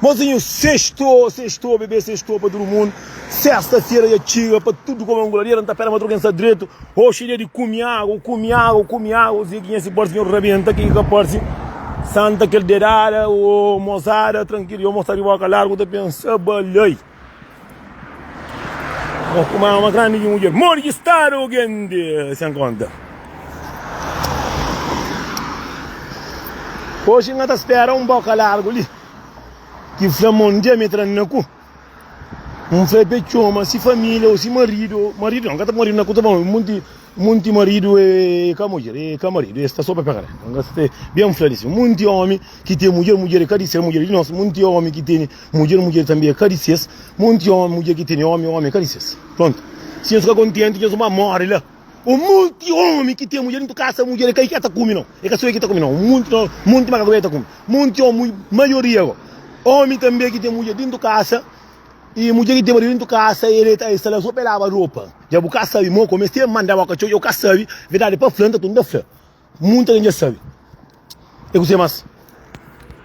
Mozinho, sextou, sextou, bebê sextou pa tudo mundo. Festa, fiera já tira pa tudo como é um gladiador. Não tá pera madruga em sadreto. Oxe, dia de come água, come água, come água. Zé que se porta, senhor rebenta, que que porta. Santa aquele dedada, o mozada, tranquilo. Eu mostrar de boca largo, tá pensando, balei. Ó, kuma é uma grande mulher. Morre estado grande, sem conta. Hoje nga ta espera um boca largo ali. Que fla mon dia me tran na cu. Um fla pe choma se família ou se marido. Marido não, nga ta marido na cu tá bom. Munti, munti marido é cá mulher, é cá marido. É está só para pegar. Nga se bem fla disso. Munti homem que tem mulher, mulher é cá de ser mulher de nós. Munti homem que tem Mudjer, mudjer tanbe é ka di ses, monti ómi, mudjer ki tene ómi, ómi é ka di ses. Prontu. Si nhos ka kontenti, nhos ba móre la. Un monti ómi ki ten mudjer intu kasa, mudjer é ka i ki el ta kume, nau. É ka so el ki ta kume, nau. Un monti, nau, monti maka ku el ta kume. Monti ómi, maioria go, ómi tanbe ki ten mudjer dintu kasa, i mudjer ki ten maridu dintu kasa, el ta, el sta la so pa el laba ropa. Dja bu ka sabe, mo, kome es ta manda bo katxor, dja bu ka sabe. Verdadi pa fla, nta tudu N ta fla. Munta dja sabe e ku se mas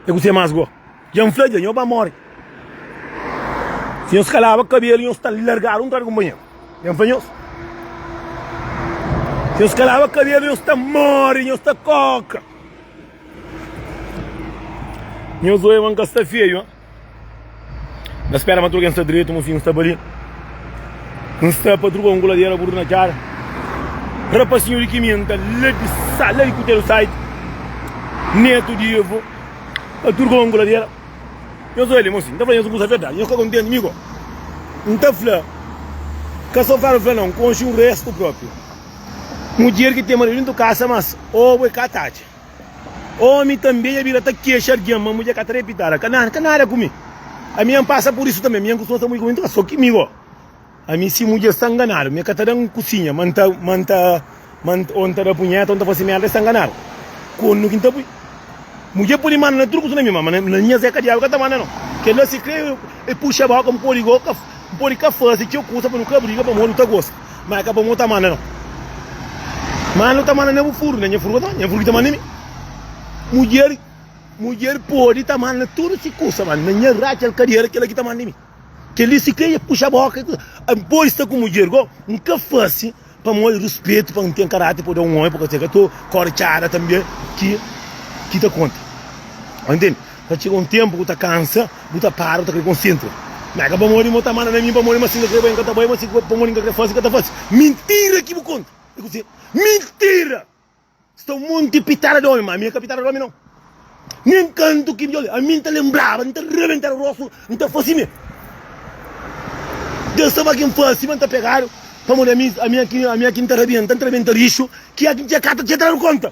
e ku se mas go dja n fla dja nho ba more si nhos ka laba kabelu nhos ta largadu un tra di kunpanheru dja n fla nhos si nhos ka laba kabelu nhos ta more nhos ta koka nhos oe ma n ka sta feio ha. Na spera ma tudu ken sta dretu Mufin sta bali N sta pa druba un kuladera burdu na cara Rapasinhu di kiminta la di sa la di kuteru site Netu di Evo pa druba un kuladera Nhos oi li Mufin ta fla nhos un kusa verdadi nhos ka kontenti mi ko N ta fla ka so kar fla non konxi un restu propi Mudjer ki ten maridu dentu kasa mas obu e ka ta atxa. Omi tanbe dja bira ta kexa algen ma mudjer ka ta repita la, Ka ka nada ku mi. Ami N pasa pur isu tanbe. Ami N kustuma sta mudjer ku mi. Nton, so ki mi gó? Ami si mudjer sta nganadu, mi ka ta da-m kusinha ma N ta ma N ta ma N ta ô N ta da punheta ô N ta fase merda, el sta nganadu. Kónde ki N ta pui? Mudjer pode manda na tudu kutu na mi, má ma na nha zeka diabu ka ta manda no. Kel-la sikrê e puxa bóka, N pode gó ka N pode ka fase txeu kusa pa nu ka briga pamodi nu ta gosa. Ma é ka pa mo ta manda no. Ma no ta manda na bu furu, na nha furu ka ta manda, nha furu ki ta manda mi. Mudjer, mudjer podi ta manda tudu si kusa, ma na nha ratxa el kadera kela ki ta manda mi. Keli si kre e puxa boka, n podi sta ku mudjer go, n ka fasi pa mo e ruspetu, pa n ten karati pa da un omi, pa ka ta kortxada tanbe ki ki ta konta. Entende? Ta txega un ténpu ku ta kansa, bu ta para, bu ta krê konsentra. Má, é ka pamodi mo ta manda na mi, pamodi ma si N ka krê bai, N ka ta bai, má si pamodi N ka krê fase, N ka ta fase. Mintira ki bu konta! É kuzê? Mintira! Sta un monti pitada di ómi, má ami é ka pitada di ómi nau. Nen kantu ki djobe, ami N ta lenbraba, N ta rebentaba rostu, N ta fase mê. Deus ta ba ki N fase, má N ta pegadu, pamodi ami, ami é ki, ami é ki N ta rebenta, N ta rebenta rixu, ki é ki N txê ka ta txê tra di konta.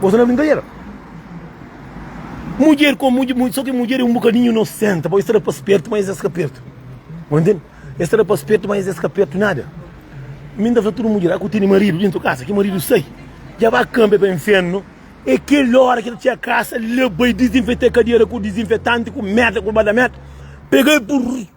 Bo sta na brinkadera? Mudjer ko mudjer, so ki mudjer e un bukadinhu inosenta, bo e sta da pa spertu, ma es es ka pertu. Bo ntende? Es sta da pa spertu, ma es es ka pertu nada. Mi nta fla tudu mudjer, a ku tene maridu dentu kasa, ki maridu sai, dja ba kanpe pa infernu, e kel ora ki ta txia kasa, leba e dizinfeta e kadera ku dizinfetanti, ku merda, ku ba da merda, pega e.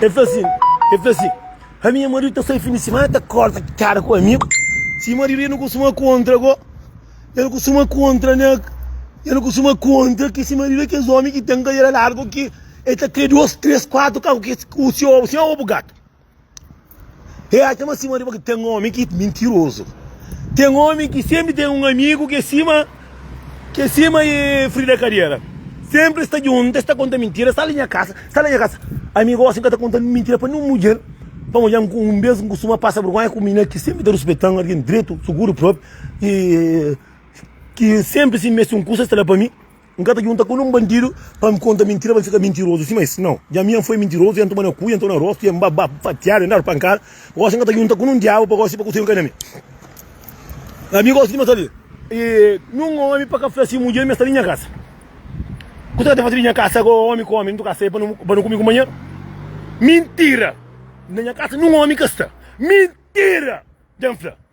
El fla sin, el fla sin, Ami i nha maridu ta sai fin di simana, ta korta kara ku ami. Si maridu, el nu kustuma kontra go, el kustuma kontra na, el kustuma kontra ki si maridu é kes omi ki ten kadera largu ki el ta kre dos, tres, kuatu kau ki se obu, si nha obu gatu. E atxa ma sima di bo ki ten omi ki mintirozu. Ten omi ki senpri ten un amigu ki é sima ki é sima e frida kadera. Senpri es ta djuntu, es ta konta mintira, sai di nha kasa, sai di nha kasa. Ami gosi n ka ta konta mintira pa nen un mudjer. Pamodi ami un bes n kustuma pasa bergonha ku un minina ki senpri ta ruspetan, algen dretu, suguru, propi, ki senpri si n meste un kusa es ta da pa mi. N ka ta djunta ku nen un bandidu pa N konta mintira pa N fika mintirozu sima es, nau. Dja mi N foi mintirozu, N toma na ku, N toma na rostu, N ba-ba fatiadu, N dadu pankada. Gosi N ka ta djunta ku nen diabu pa gosi pa kusedu kai na mi. Ami gosi di mata li nen omi pa ka fla si mudjer mi sta di nha kasa. Kusa ka ta fasi di nha kasa ago omi ku omi? N tuka sai pa nu ku mi kunpanheru? Mintira! Na nha kasa nen omi ka sta. Mintira! Dja N fla.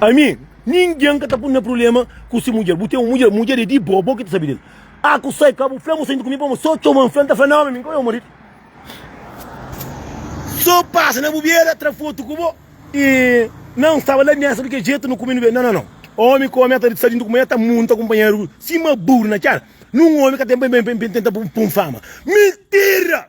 Ami, ningen ka ta pun na prubléma ku se mudjer. Bu ten un mudjer, mudjer é di bo, bo ki ta sabe del. A ku sai ka bu fla bu senta ku mi pa ma so txoma-m, fla-m ta fla na ómi mi ka é un maridu. So pasa na bu bera, tra fotu ku bo y na N staba la mi asa kel jetu nu kume nu bebe. Nan nan nan. Ómi ku ómi ata sta di nkume, ata munta kunpanheru sima buru na txera. Nun ómi ka ten pa N tenta pun fama. Mintira!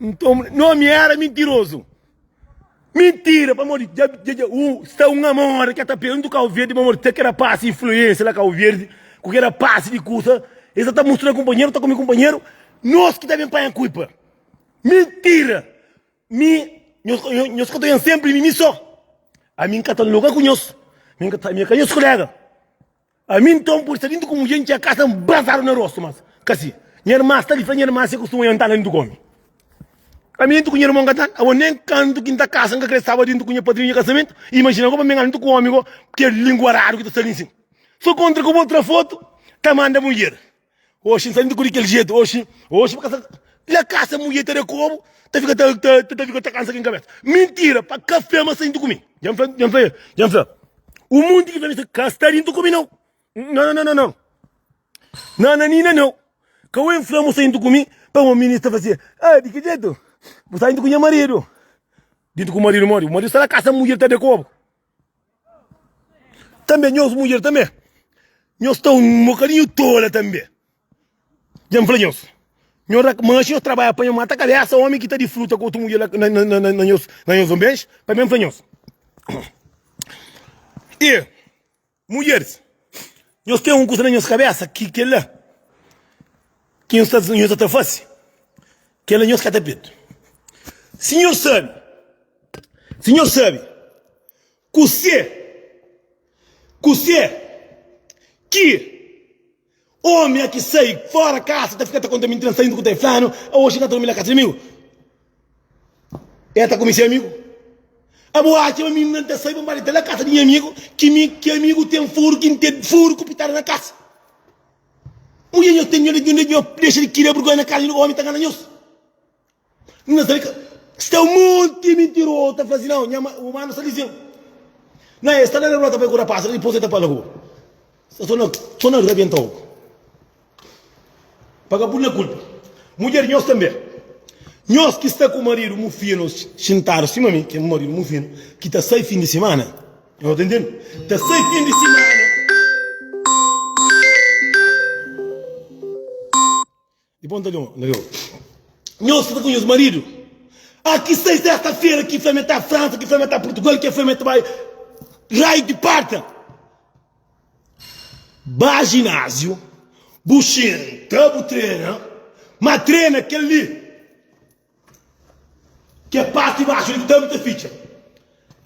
Nton, Noemi éra mintirozu. Mintira, pamodi dja dja dja u sta un amor ka ta pendu Cabo Verde, pamodi ta ke rapaz influensia la Cabo Verde ku ke rapaz di kusa e sa ta mustra kunpanheru ta komi kunpanheru, nos ki ta ben panha kuipa. Mintira, mi nhos ka nhos nhos ka ta jon senpri mi mi so, ami nka ta loga ku nhos, mi nka ta mi ka nhos kulega. Ami nton poi sta dintu ku mudjer, N txia kasa, N brasadu na rostu, mas ka si. Nha irman sta li, fla nha irman si e kustuma janta la dintu ku omi. Ami dintu ku nha irmon ka tanga. Awa, nen kantu ki N ta kasa, N ka krê staba dintu ku nha padrinhu di nha kasamentu i imajina goba mi ngana dintu ku omi go, kel lingua radu ki ta sta li nsin. So kontra ku bo tra fotu ta manda mudjer. Oxi, nsa ku di kel jetu oxi Oxi pa kasa La kasa mudjer ta da kobu Ta fika ta ta ta fika ta kansa kin kabesa Mintira pa ka fla ma sai ntu ku mi Dja fla dja fla dja fla O munti ki fla mi sa ka sta di ntu ku mi nau Nan nan nan nan Nananina nau Ka wen fla mu sai ntu ku mi Pa ma mi ni sta fase Ah di ki jetu Bu sai ntu ku nha maridu Di ntu ku maridu modi Bu maridu sta la kasa mudjer ta da kobu. Tanbê nhos mudjer tanbê, nhos ta un bokadinhu tola tanbê. Dja N fla nhos, nhos da manxe, nhos trabadja pa nhos mata kabésa ómi ki ta disfruta ku otu mudjer la na nhos onbenxe. Pamê N fla nhos, i. Mulheris, nhos ten un kusa na nhos kabésa ki kel-la ki nhos ta nhos ta ta fase, kel-la nhos kata petu. Sinhor sabe, Sinhor sabe kuse, kuse ki. Omi a ki sai fora kasa ta fika ta konta mintira, saindo ku ta e flanu, Aoxi na ta durmi na kasa di amigu. El ta kume se amigu. Abo atxa ma mi na ta sai pa n ba dita la kasa di nha amigu, ki mi ki amigu ten furu ki n ten furu ku pitada na kasa. Mudjer nhos ten nhos dexa di kira burgonha na kasa di nhos, omi ta ngana nhos. N na sabe ka sta un monti mintirozu ta fla si nau, nha umanu sta lijiu. Na e sta la na rua ta bai kura pasu, dipus e ta pa la rua. Sta so na so na rabienta ogu. Pa ka pul-la kulpa. Mudjer nhos tanbe. Nhos ki sta ku maridu mufinu xintadu sima mi, kel maridu mufinu ki ta sai fin di simana, nhos ta ntende? Ta sai fin di simana. Di bom ta lhon na lhon. Nhos ki ta konhece marido ah ki sai sesta fera ki fla me ta frança ki fla me ta portugal ki fla me ta bai raio di parta ba ginasio bu xinta bu trena ma trena kel li Ke parti baxu li ki tanbe ta fitxa.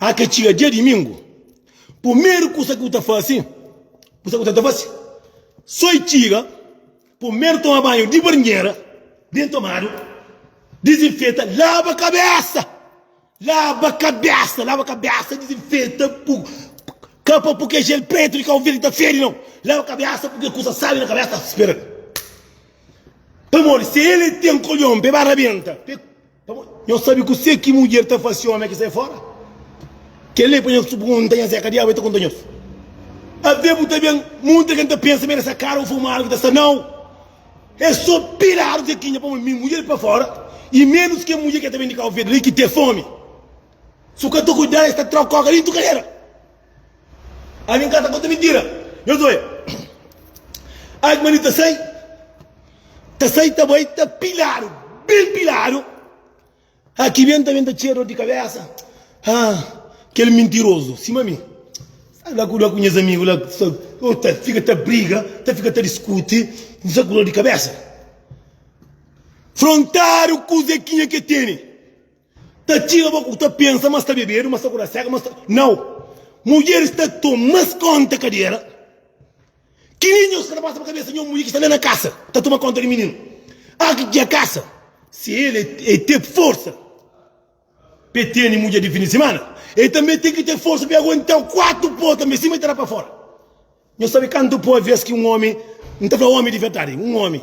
A ke txiga dia dimingu, pumeru kusa ki bu ta fasi, bu sabe ku ta ta fasi? So i txiga, pumeru toma banhu di barnjera, ben tomadu, dizinfeta, laba kabesa. Laba kabesa, laba kabesa, ta dizinfeta bu kapa pur ke jel pretu di Cabo Verde ta fedi nau. Laba kabesa pur ke kusa sabi na kabesa ta spera-l. Pamodi si el e ten kolhon pe ba rabenta, pe pamodi nhos sabi kuse ki mudjer ta fasi omi ki sai fora. Kel-li e pa nhos purgunta nhas e ka diabu e ta konta nhos. Ave bu ta ben munta ken ta pensa ma e da sa kara un furmadu ki ta sta nau. É só piradu ke ki nha pome mi mudjer pa fora e menus ke mudjer ke ta ben di Cabo Verde li ki te fome. Su ka ta cuidá es ta tra coca dintu cadeira. A mi ka ta conta mentira. Nhos oia. Ai mani ta sai, ta sai ta bai ta piladu, ben piladu. Ah, ki benta benta txia dor di kabesa. Ah, kel mintirozu, sima mi. Sai la kuda ku nhas amigu la, sa, oh, ta fika ta briga, ta fika ta diskuti, sa ku dor di kabesa. Frontadu ku Zekinha ke tene. Ta txiga bo ku ta pensa ma sta bebedu, ma sta kuda seka, ma sta. Nau! Mudjeris ta toma mas konta kadera. Ki li nhos ka ta pasa pa kabesa nho mudje ki sta la na kasa ta tuma konta di mininu. A ki dja kasa si el e te forsa pa e tene mudje di fin di simana, el tanbe ten ki te forsa pa e aguenta-u kuatu po tanbe sima e ta da pa fora. Nhos sabe kantu po a ves ki un omi, N ta fla omi di verdadi, un omi.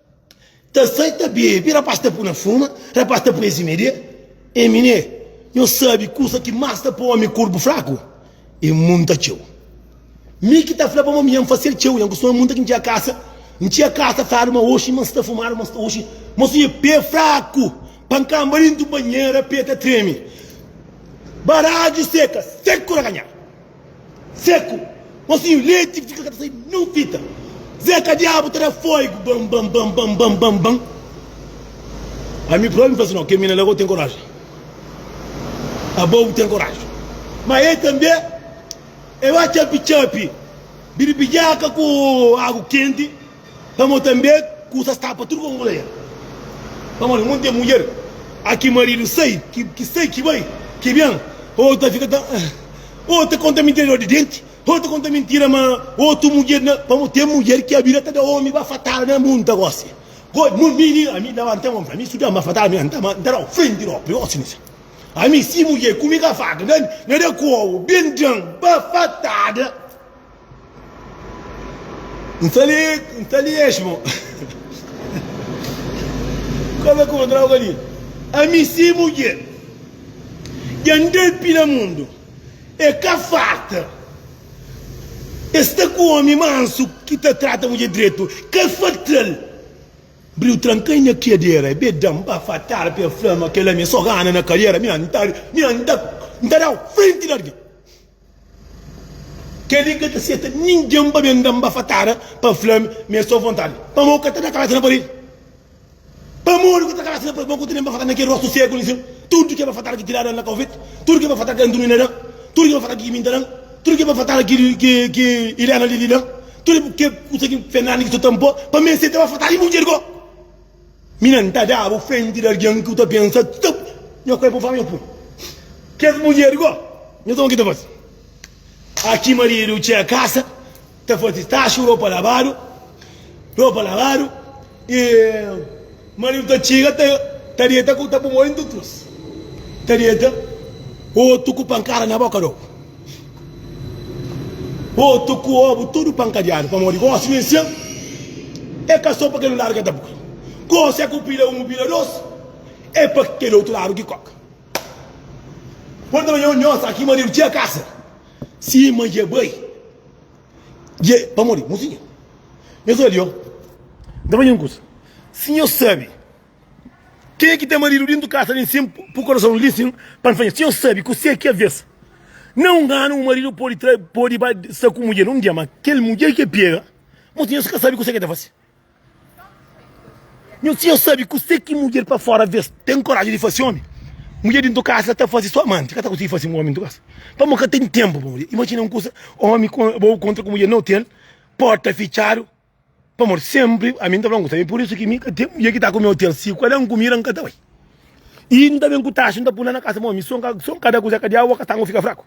Ta sai ta bebi rapaz ta puna fuma rapaz ta prezi media e minê nho sabi kusa ki mas ta po omi kurpu fraku e munta txeu mi ki ta fla pa mami nha fasel txeu nha kustuma munta ki ntxia kasa ntxia kasa fadu ma oxi mas ta fumadu mas oxi mas oxi pe fraku pa nkanba dintu banhera pe ta tremi baraju seka seku na kanha. Seku. Mosinhu leti ki fika ka ta sai nin fita. Zeka diabu ta da foigu bam bam bam bam bam bam bam. Ami probi mi fla si no kel mina la gou ten koraji. Abou ten koraji. Ma e tanbe e ba txapi txapi biribidjaka ku agu kenti. Pamodi tanbê ku sa sta pa tudu ku mulher. Pamodi mun ten mulher a ki maridu sai, ki sai, ki bai, ki ben, otu ta fika ta otu ta konta mintira dor di denti, otu ta konta mintira ma otu mulher na. Pamodi ten mulher ki abida ta da omi bafatada na mun ta gosi. Goi mun mi ni ami daba nta omi ami su da-m bafatada mi nta ma nta da-u frenti da omi gosi ni sa. Ami si mulher ku mi ka faka na da ku obu ben dan bafatada. N ta li, n ta li es, mon. Kome ku droga li. Ami si mudjer. Dja N depi na mundu. E ka farta. E sta ku omi mansu ki ta trata mudjer dretu. Ka fatal. Bri u tranka-i na kedera. E be da-m ba fatal pa e fla-m kel ami. N so gana na kadera. Mi N ta, mi N ta, N ta da-u frenti di algin. Kel-li ka ta seta ningen pa ben da-m bafatada pa fla-m ma es sta avontadi. Pamodi bu ka ta da kalasi na paredi? Pamodi bu ka ta kalasi na paredi? Pamodi bu ka ta da-m bafatada na kel rostu seku li sin? Tudu kel bafatada ki tiradu na kaufeti, tudu kel bafatada ki Antunia da-m, tudu kel bafatada ki Kiminta da-m, tudu kel bafatada ki Ilena Lili da-m, tudu kel kusa ki Fernandes ki so ta-m pô, pa mi es seta bafatada di mudjer ko? Mi na nta dabo frenti di algen ki bu ta pensa txup nha kuerpu fla nha pui kes mudjer go nha sa o ki ta fasi aki maridu txia kasa ta fasi staxu ropa labadu ropa labadu e maridu ta txiga ta ta deta ku ta pumodi ntutrus ta deta otu ku pankada na boka do. Otu ku obu tudu pankadiadu pamodi gosi nes txeu é ka so pa kel un ladu ka ta boi gosi é ku pila un u pila dos é pa kel otu ladu ki koka podi ta banja un nhos aki maridu txeu kasa si ma dja bai dja pamodi mosinha nhos odiou nta banja un kusa si nhos sabi. Kenha ki ten maridu dintu kasa li nsin pu korason li nsin pa N fadja si N sabi ku se ki aves na un anu un maridu podi tra podi ba sta ku mudjer un dia ma kel mudjer ki el pega moti nhos ka sabi ku se ki el ta fase nhos si nhos sabi ku se ki mudjer pa fora aves ten koraji di fase omi mudjer dintu kasa ta fase so amanti ka ta konsigi fase omi dintu kasa pamo ka ten tenpu pa mudjer imajina un kusa omi bo kontra ku mudjer na hotel porta fitchadu. Pamodi senpri ami n ta fla-m ku sebe, pur isu ki mi ka ten mudjer ki ta ku mi otel. Si ku el N kumida N ka ta bai. I N ta ben ku taxu N ta pui-la na kasa ma omi. Son N ka da kuze, ka dia awa ka sta, N fika fraku.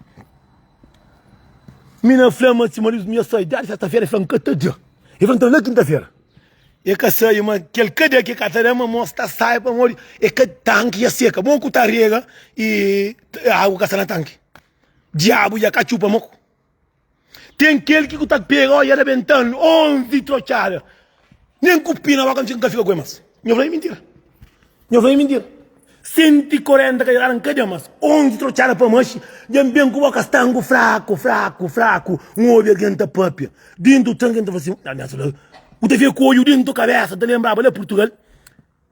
Mi na fla ma si maridu mi a sai dia di sesta-fera, el fla N ka ta da. El fla N ta da na kinta-fera. El ka sai ma ki el ka da ki el ka ta da ma mos ta sai pamodi e ka tanki dja seka. Bo ku ta rega i agu ka sta na tanki. Diabu dja ka txupa-m oku. Ten kel ki ku ta pega oja rebenta-l onzi trotxada. Nen ku pina boka nfi nka fika ku el mas. Nho fla-i mintira. Nho fla-i mintira. Senti korenta ka djada nka dja mas. Onzi trotxada pa maxi dja n ben ku boka stangu fraku, fraku, fraku. N obi algen ta papia dintu tranki, n ta fla sin, N ta fika ku oju dintu kabesa, n ta lenbraba la Purtugal.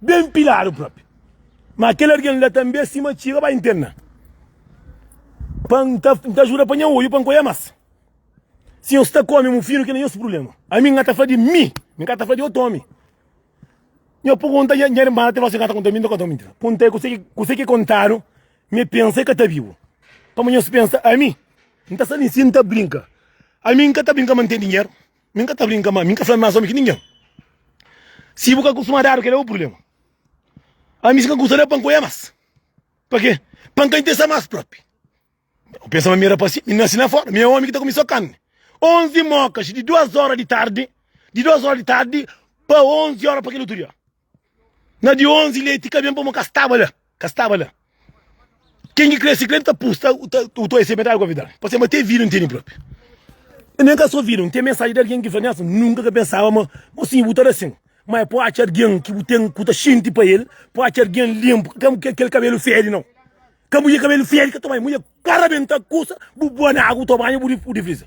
Ben piladu propi. Ma kel argen la tanbe sima txiga bai ntena. Pa N ta, N ta ajuda pa nha oiu pa N koia mas. Si nhos ta kome mufinu kel la nhos prublema. Ami N ka ta fla di mi, mi ka ta fla di otu omi. Nha purgunta nha nha irman até osi N ka ta konta mi, N ta konta mintira. Punta e kuse ki kuse ki kontadu mi e pensa e ka ta bibu. Pamodi nhos pensa ami N ta sa li si N ta brinka. Ami N ka ta brinka ma N ten dinheru. Mi n ka ta brinka más, mi n ka fla más omi ki ningen. Si bu ka kustuma dadu, kel-la é bu prubléma. Ami, si n ka kusta da pan ku oja más, pa ke pan ka interesa más própi? Bu pensa ma mi é rapás sin? Mi nase na fóra, mi é omi ki ta kume sô karni. Onzi mókas di duas óra di tardi, di duas óra di tardi pa onzi óra pa kel otu dia. Na di 11 leiti ka ben pamo ka staba la ka staba la ken ki kre si kre ta pus ta u ta ese metadi kovidal pa se ma te vida nteni propi i nen ka so vida nteni mensaji di algen ki fla nhas nunka ka pensaba ma ma si bu ta da sin ma e po atxa algen ki bu ten ku ta xinti pa el po atxa algen linpu ka kel kabelu fedi nau Ka mulher cabelo feio ka ta banha. Mulher cara bem ta custa. Bu boa na água, tu banha, bu rico, bu defrisa.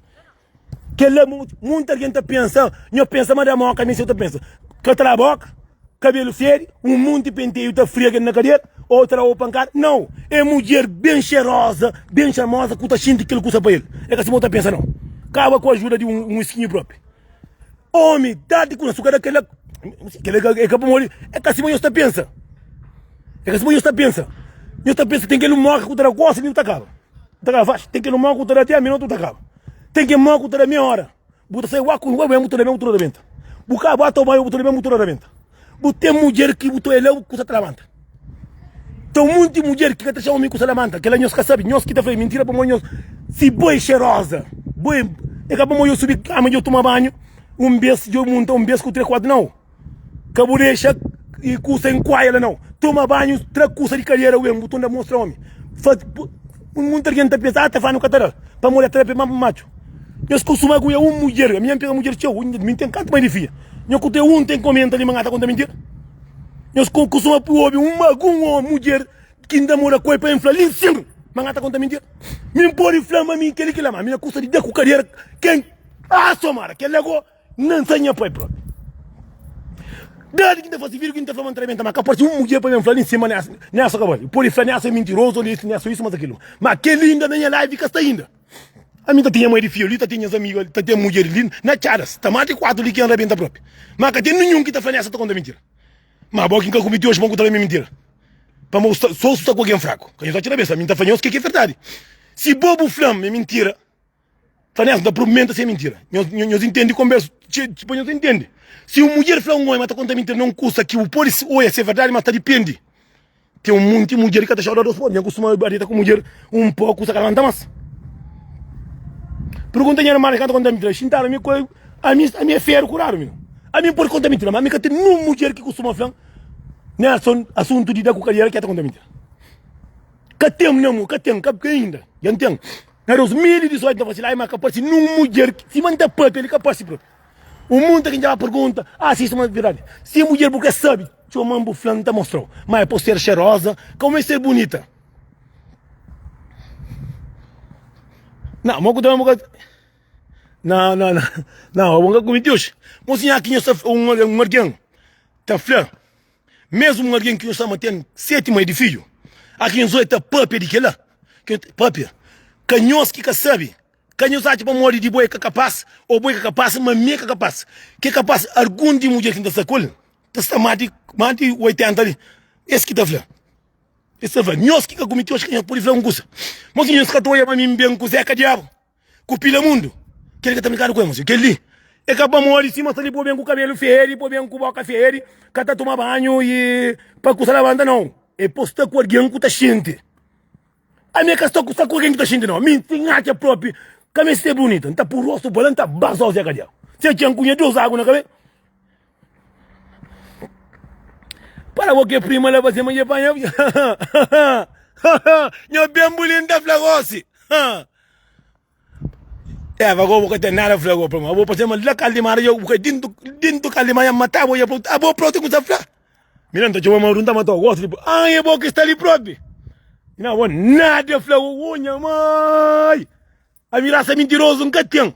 Que lá, muita alguém tá pensando. Eu pensa, mas da moca, nem se eu tá pensando. Que tá boca, cabelo feio, um monte de penteio, tá friega na cadeira, outra ou pancada. Não. É mulher bem cheirosa, bem charmosa, que tá xinti aquilo que usa para ele. É que assim, eu tá pensando, não. Acaba com a ajuda de um, um esquinho próprio. Omi, dadi ku na su kada kela Kela é ka pamodi é ka sima nhos ta pensa É ka sima nhos ta pensa Nhos ta pensa ten kel un móka ku ta da gósi nu ta kaba Nu ta kaba faxi Ten kel un móka ku ta da até minotu nu ta kaba Ten kel móka ku ta da meióra Bu ta sai wá ku un wé-wé bu ta da ben bu ta da rabenta Bu kaba ata un mai bu ta da ben bu ta da rabenta. Bu ten mudjer ki bu ta olha bu kusa ta labanta ten un monti mudjer ki ka ta txeu mi kusa labanta kela nhos ka sabi nhos ki ta fla mintira pamodi nhos si bo é xeroza bo é é ka pamodi djo subi kama djo tuma banhu un bes djo munta un bes ku tre kuatu nau ka bu dexa kusa inkuaia la nau tuma banhu tra kusa di kadera ku ben bu ta unda mostra omi fa. Un monti algen ta pensa, ah ta fla nu ka ta da-l pamodi el ta da pemba pa matxu. Nhos kustuma ku é un mudjer, ami nha pega mudjer txeu, mi ten kantu mai di fia. Nho ku ten un ten komenta li ma nha ta konta mintira. Nhos kustuma pui obi un algun omi, mudjer ki n ta mora ku el pa el fla li sin ma nha ta konta mintira. Mi n podi fla ma mi keli kila ma ami nha kusa di da ku kadera ken ah somada kel la go. Nan sa nha pai propi. Dadi ki ta fasi vidi ki nu ta fla ma nu ta rebenta ma ka parsi un mudjer pa ben fla li nsin ma ne asa ka bali. N podi fla ne asa e mintirozu, ne asa isu, ma asa kilu. Ma kel li inda na nha live ka sta inda. Ami ta ten nha mai di fiu li, ta ten nhas amigu ali, ta ten mudjer li na txadas. Ta mas di kuatu li ki N rebenta propi. Ma ka ten ninhun ki ta fla ne asa ta konta mintira. Ma bo ki N ka kumiti oji pa N konta la mi mintira. Pamodi bu sta so sta ku algen fraku. Ka nhos atxa na bês. Ami N ta fla nhos ke ki é verdadi. Si bo bu fla-m ma é mintira. Fla nes, N ta probi menta sem mintira. Nhos intendi konbersa txeu di pa nhos intendi. Si un mudjer fla un omi ma ta konta mintira na un kusa ki bu podi oja si é verdadi, ma sta dipende. Ten un munti mudjer ki ka ta xoda dos podi. Nha kustuma ba deta ku mudjer un po, kusa ka ta lanta mas. Purgunta nha erma di ka ta konta mintira. Xintadu, ami ku el, ami é feru kuradu mi. Ami N podi konta mintira, ma ami ka ten nin un mudjer ki kustuma fla-m, Nelson, asuntu di da ku kadiera ki é ta konta mintira. Ka ten, mi amor, ka ten, ka inda. Dja N ten. Na 2018 nta fasi laima ka parsi nun mudjer sima nta papia li ka parsi bro un munta ki nta ba pergunta ah si suma verdadi si é mudjer bu ka sabi txoman bu flan nta mostrau ma é po ser xeroza kau ma é ser bunita na mo ku ta na na na na na bo nka kumiti oxi mo si nha ki nho sa un algen ta fla. Mesmo um alguém que nos ama tem sete mãe de filho, a quem Zói tá pâpia de quela, quem pâpia, ka nhos ki ka sabe, ka nhos atxa pamodi di bo é ka kapaz ou bo é ka kapaz, ma mi é ka kapaz, ki é kapaz algum di mudjer ki N ta sta ku el ta sta más di más di 80 li, es ki ta fla, es ta fla nhos ki ka kumiti oxi ka nhos pudi fla un kusa, ma oxi nhos ka ta olha pa mi ben ku Zé ka diabu. ku pilamundu kel ka ta brinkadu ku el mostra kel li e ka ba modi sima sa li pô ben ku kabelu feri pô ben ku boka feri ka ta tuma banhu e pa kusa labanta nau e pô sta ku algin ku ta xinti ami ka sta ku sta ku algin ku ta xinti nau mi si n atxa propi ka mi ser bunita n ta pô rostu pa la n ta ba so se kadiau se txeu n kunha dus agu na kabe para bo ke prima la fase ma je panha nha ben bulin ta fla gosi. Eva, agoa bo ka ten nada fla agoa pa ma, bo pa sema la kal di mara jau bu kai dintu dintu kal di manha mata bo ya prontu a bo propi kumsa fla mina nta txoma ma runta ma ta gosta di bo ah e bo ki sta li propi mi na bo nada fla agoa nha mai ami rasa mintirozu nka ten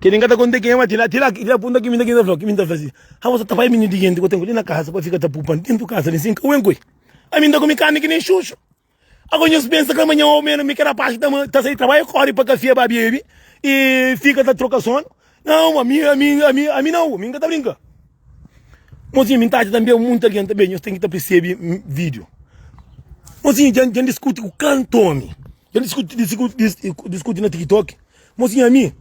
Kel li n ka ta konta ki é, má ti la, ti la el dja punta ki mi, ki mi ta fla-l, ki mi ta fla-l si, Abo sa ta bai minju di jenti ku tenku li na kasa pa fika ta pupa-m déntu kasa li sin kau enkoi? Ami n ta kume karni ki nen xuxu. Ago nhos pensa ka manhan ô ménus mi ki rapás ki ta sai trabadju kóre pa kafé ba bebe i fika ta troka sónu? Nau, ami, ami, ami, ami nau, ami n ka ta brinka. Mozinhu, mi n ta atxa tanbê monti algen tanbê nhos ten ki ta persebe vídiu. Mozinhu, dja, dja N diskuti ku kantu ómi. Kel diskuti diskuti na tiktok mosinha mi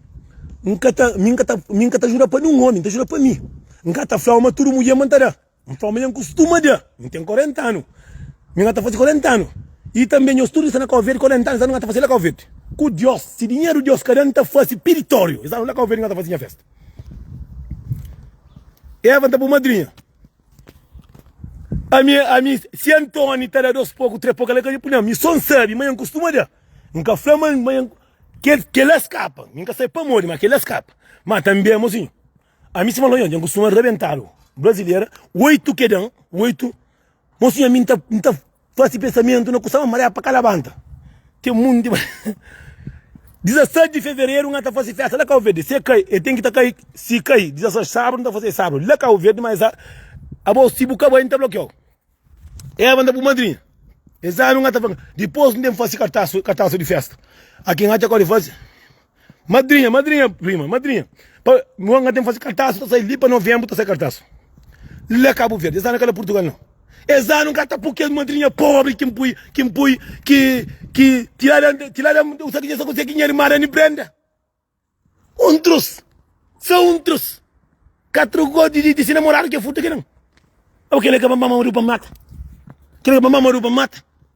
N ka ta mi N ka ta mi N ka ta ajuda pa nen un omi N ta ajuda pa mi N ka ta flau ma tudu mudjer ma N ta da N flau ma nha N kustuma da mi ten 40 anu mi nha ta fase 40 anu y tanbe nhos tudu sta na kau verde 40 anu sa nu nha ta fase la kau verde ku Dios si dinheru Dios ka da N ta fase piritoriu esa la kau verde nha ta fase nha festa Eva N ta bu madrinha. Ami, ami, si Antoni ta da dos poku, tres poku, el ka dja punha. Mi son sabi, ma N kustuma da. N ka fla ma, ma N. Kel, kel la skapa. Mi N ka sabi pamodi, ma kel la skapa. Ma tanbe, amozinhu, ami sima lonhonhu, dja N kustuma rabentadu. Brazileira, oitu kedan, oitu. Mosinhu, ami N ta, N ta. Fá si pensamentu na kusa ma maré pa ka labanta Ten munti ma 16 di fevereru nha ta fase festa la kau verde se kai e ten ki ta kai si kai 16 sabru nha ta fase sabru la kau verde ma es a abau si bu ka bai nha ta blokiau eva nha bu madrinha es anu nha ta fla dipos nha ta fase kartasu di festa aki nha ta kau di fase. Madrinha, madrinha, prima, madrinha. Pa, nua nga tem fazi kartasu, ta sai li pa novembro ta sai kartasu. La Cabo Verde, es anu ka la Portugal não. Es anu nga ta pui kes madrinha pobre ki npui, ki npui, ki, ki, ti la la, ti la la, u sa ki dja sa konsegi nha irma Rani Brenda. Um trus, só um trus. Ka trocou de, de, de se namorado que é furta que não. Ou que ele acaba mamando para mata. Que ele acaba mamando para mata.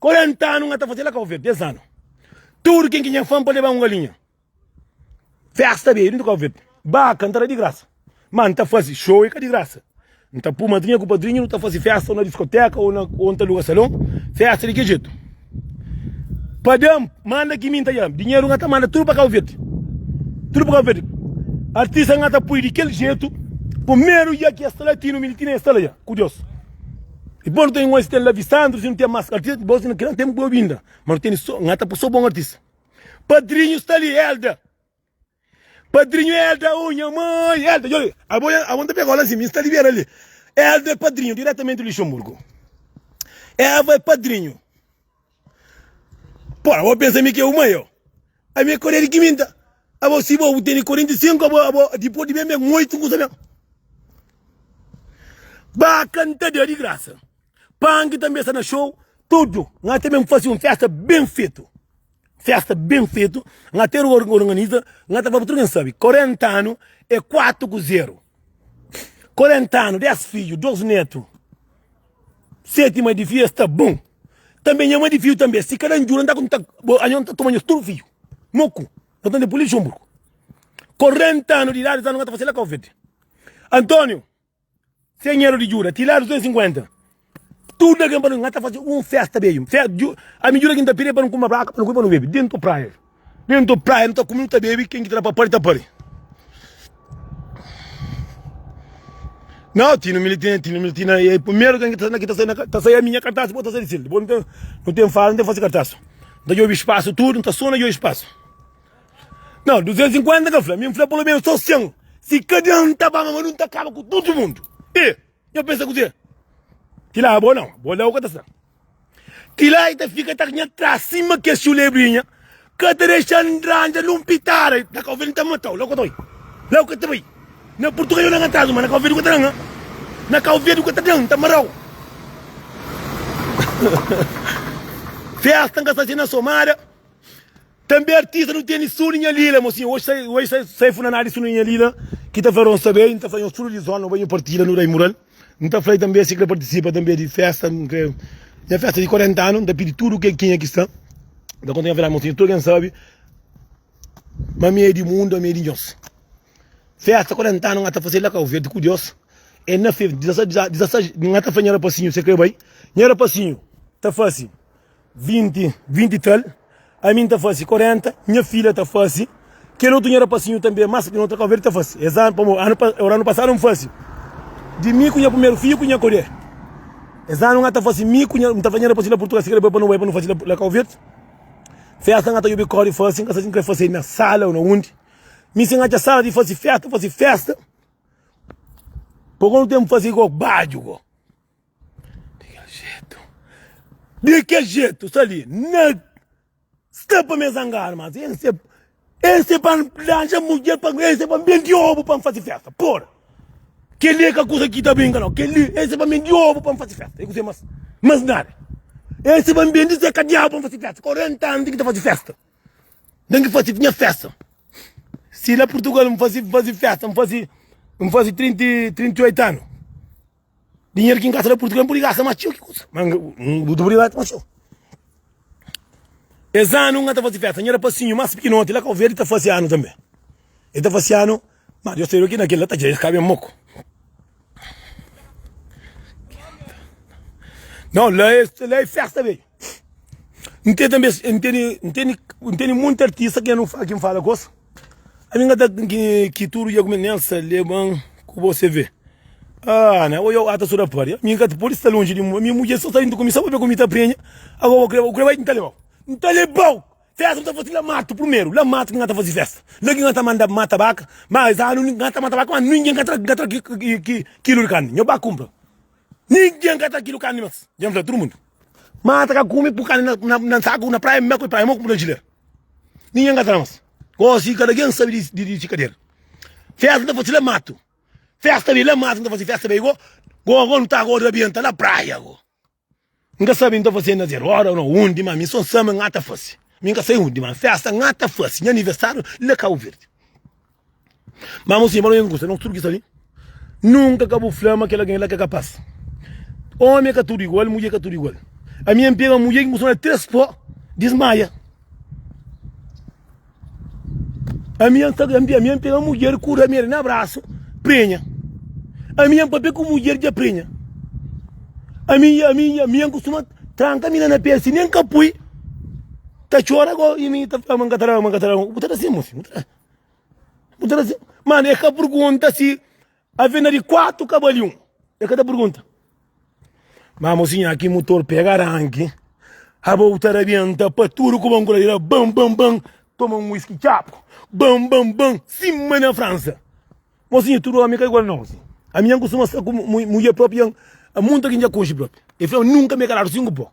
40 anu nha ta faze la cabo verde 10 anu tudo ken ki nha fam pa leba um galinha festa bey dentro cabo verde baka nta da di graça ma nta faze show e ka di graça nta pu madrinha ku padrinho nu ta faze festa ou na discoteca ou na ou nta luga salon festa di ke jeito pa dam manda ki mi nta djam dinheiro nha ta manda tudo pa cabo verde tudo pa cabo verde artista nha ta pui di kel jeito primeiro dja ki esta latino militino esta la dja ku Deus. Dipos nu tene un asistenti Lavi Sandro si nu ten mas artista dipos si nu kre nu ten bo binda ma nu tene so nha ta poi so bon artista padrinho sta li Elda padrinho Elda oh nha mãe Elda djo li abo nha abo ta pega ola si mi sta li bera li Elda é padrinho diretamenti di Luxemburgo Eva é padrinho. Pô, abo pensa mi ki é uma eu. A mi é koreia di kiminta. Abo si bo teni 45, abo, abo, depois di bem bem, oito kusa bem. Ba canta Deus di graça. Punk também está na show, tudo. Nós também fazer uma festa bem feito. Festa bem feito. Nós ter organiza, nós tá falando tudo quem sabe. 40 anos é 4 com 0. 40 anu 10 fidju 2 netu seti ma di fidju es ta bon tanbe nha ma di fidju tanbe si kada ndjura nta nta anha nta toma nhos tudu fidju moku no tende pulil xonbru 40 anu di idadi sa nu ka ta fasi la ka uvedi Antonio sem medu di djuda ti la 250. Tudu algen pa nu nha ta fase un festa beju festa dju ami dju la ki nu ta pire pa nu kuma braka pa nu kome pa nu bebe dentu praia dentu praia nu ta kume nu ta bebe ken ki ta da pa pari ta pari nau tino mili tino tino mili tino e primeru ken ki ta sai na ki ta sai na ta sai ami nha kartas dipos ta sai di sil dipos nu ten nu ten fala nu ten fase kartas nu ta djobi spasu tudu nu ta sona djobi spasu nau 250 ka fla mi fla pulu menos so 100 si kada un ta ba ma nu ta kaba ku tudu mundu e. Nho pensa kuzê? Kila é bô não, bô dá o que tá sendo. Kila e tá fica tá nha trás cima que chulebrinha, que tá deixando entranja num pitada, lá que eu vim tá matou, lá que eu tô aí, lá que eu tô aí. Na português eu não atrás, mas na que eu vim que tá dando, na que eu vim que tá dando, tá marou. Festa que tá sendo somada, Tanbe artista nu teni Suni nha lila mo sin oji oji sai sai funanada di Suni nha lila ki ta fla ronsa be nta fla nho studu di zon no ba nho partida no dai mural nta flai tanbe si kre partisipa tanbe di festa nkre nha festa di 40 anu nta pidi tudu ke kenha ki sta nta konta nha fla mo sin tudu ken sabi ma mi e di mundu ami e di nhos festa 40 anu nha ta fase la kau verdi ku dios e na fe 16 16 nha ta fla nha rapasinhu se kre bai nha rapasinhu ta fasi. 20, 20 tal, ami N ta fase 40, nha fidja ta fase, kel otu nha rapasinhu tanbe mas pekinó ta kónverte ta fase. Es anu pamó, anu pa, ora anu pasadu N fase di mi ku nha primeru fidju ku nha kodje. Es anu N ata fase mi ku nha, N ta fla nha rapasinhu la Purtugal si krê bai pa nu bai pa nu fase la, la kónverte. Festa N ata djobe kóre fase, N ka sa si N krê fase na sala ou na undi. Mi si N atxa sala di fase festa, fase festa, pamó N ten fase ko badju ko. Di kel jetu. Di kel jetu, sta li. Na sta pa me zangar, mas es é es é pa N lanja mudjer pa es é pa N bendi obu pa N fase festa. Pora! Kel li é ka kusa ki ta brinka nau. Kel li es é pa N bendi obu pa N fase festa. É kuzê mas mas nada. Es é pa N bendi se kadiau pa N fase festa. Korenta anu N ten ki ta fase festa. N ten ki fase nha festa. Si la Purtugal N fase fase festa N fase N fase trinta i trinta i oitu anu. Dinheiro ki nkasa na Portugal npudi gasta ma txeu ki kusa ma bu dubri bati ma txeu. Es anu nga ta fasi festa nha rapasinhu mas pikinoti la Kau-Verdi ta fasi anu tanbe. E ta fasi anu ma Deus ta iba ki na kel la ta dja es ka ben moko. Nau la es la e festa bedju. Nteni tanbe nteni nteni nteni monti artista ki nha nu fala ki nfala gosi. Ami nga ta ki tudu dia kume nel sa leban ku bo se ve. Ah ne oiou ata so da pari ami nka ta podi sta lonji di mi mudjer so ta intu ku mi sa pa be ku mi ta prenha ago bo kreba u kreba nta lebau nta lebau festa mi ta fasi la matu primeru la matu ki nga ta fasi festa la ki nga ta manda mata baka ma es anu nga ta mata baka ma ningin nka tra nka tra kilu di karni nho ba kunpra ningin nka tra kilu karni mas dja fla tudu mundu mata ka kume pu karni na na na saku na praia mi ba ku praia mi ba kunpra jileria. Ninhen ka ta na mas Gosi kada ken sabe di di di si kader Festa ta fase la matu Festa be la matu N ta fase festa be go Go go N ta goda be N ta na praia go N ka sabe N ta fase na zero ora no undi ma mi so N sama N ata fase Mi N ka sai undi ma festa N ata fase Nha aniversario la Cabo Verde. Má mosinha, pa nu mésmu kuza, nos tudu ki sta li, nunka ka bu fla ma kel algen la ka é kapas. Ómi ka tudu igual, mudjer ka tudu igual. Ami N pega un mudjer ki N kustuma da-l três pó, dismaia. Ami N sta, ami N pega mudjer ku râmia na brasu, prenha. Ami N papia ku mudjer dja prenha. Ami, ami, ami N kustuma tranka mina na pé si nen ka pui, ta txora, ago i mi ta fla ma N ka ta da, ma N ka ta da. Bu ta da sin, mosi? Purgunta assim, mano, é ka purgunta si avena de quatro ka bali um. É ka ta purgunta. Mas mocinha, aqui motor pega arranque. A volta arrebenta para tudo com banco da bam bam bam. Toma um whisky chapo. Bam bam bam. Cima na França. Mocinha, tudo homem que é igual não. Assim. A minha costuma ser com mulher própria. A muita que já conche própria. E fala, nunca me calaram cinco pó.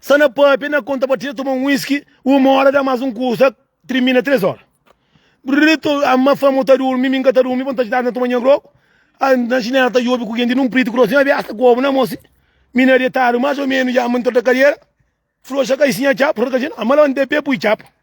Sa na pâpia na konta pa ti ta toma un whisky Uma óra da más un kusa Trimina três óra Brrr to ama fama ta durmi Mi ka ta durmi pa n ta djidadu na toma nha grogu ah, Na xinela ta djobi ku genti nun pritu krosi Nha biasa ku obu na mô si Mi na detadu más o menus dja ama n torta kadiera Froxa kai si nha txapu Torta kadiera ama labanta pé pui txapu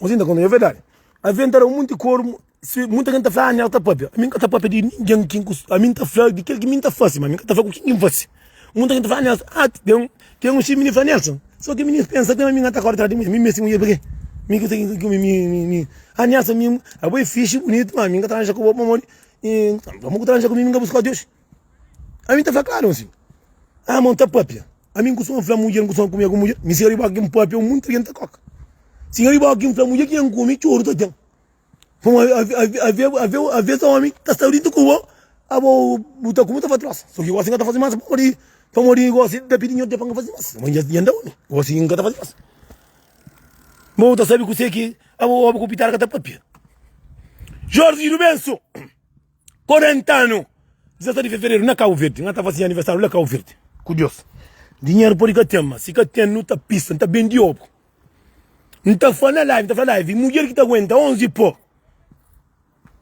Nhozinho ta konta nha verdadi Avi N ta da-m monti koru si Monti algen ta fla ami ka ta pâpia Ami N ka ta pâpia di ningen Kin ku ami N ta fla di kel ki mi ta fase ma mi ka ta fla ku kin ki N fase Monti algen ta fla Nélson ah ten ten un xinti mi ta fla Nélson so kel mini pensa ten ami ka ta kóre tra di mudjer mi meste mudjer pakê mi kuzê ki mi mi ah Nélson mi abo é fixi buniti ma ami N ka ta ranja ku bo pamodi i amo ku ta ranja ku mi mi ka bu sta di oxi. Ami ta fla klaru ansin. Ah, ma N ta papia. Ami N kustuma fla mudjer, N kustuma kumia ku mudjer. Mi si riba ki N papia, un monti di jenti ta koka. Si riba ki N fla mudjer ki N kumi, txoru ta ten. Pamodi aves omi ta sta dintu ku bo, abo bu ta kume, bu ta fla trosa. Sô ki gosi N ka ta fasi más pamodi, pamodi gosi N ta pidi nha odi pa N ka fasi más. Ma nha nda omi, gosi N ka ta fasi más. Bo bu ta sabe kuse ki abo obi ku pitara ka ta papia. Jorzi Rubensu. 40 anu 17 di fevereru na cabo verde nhata fasi nha aniversário la cabo verde ku Deus dinheru podi ka ten ma si ka ten nu ta pisa nu ta bendi obu nu ta fla na live nu ta fla na live mudjer ki ta aguenta 11 po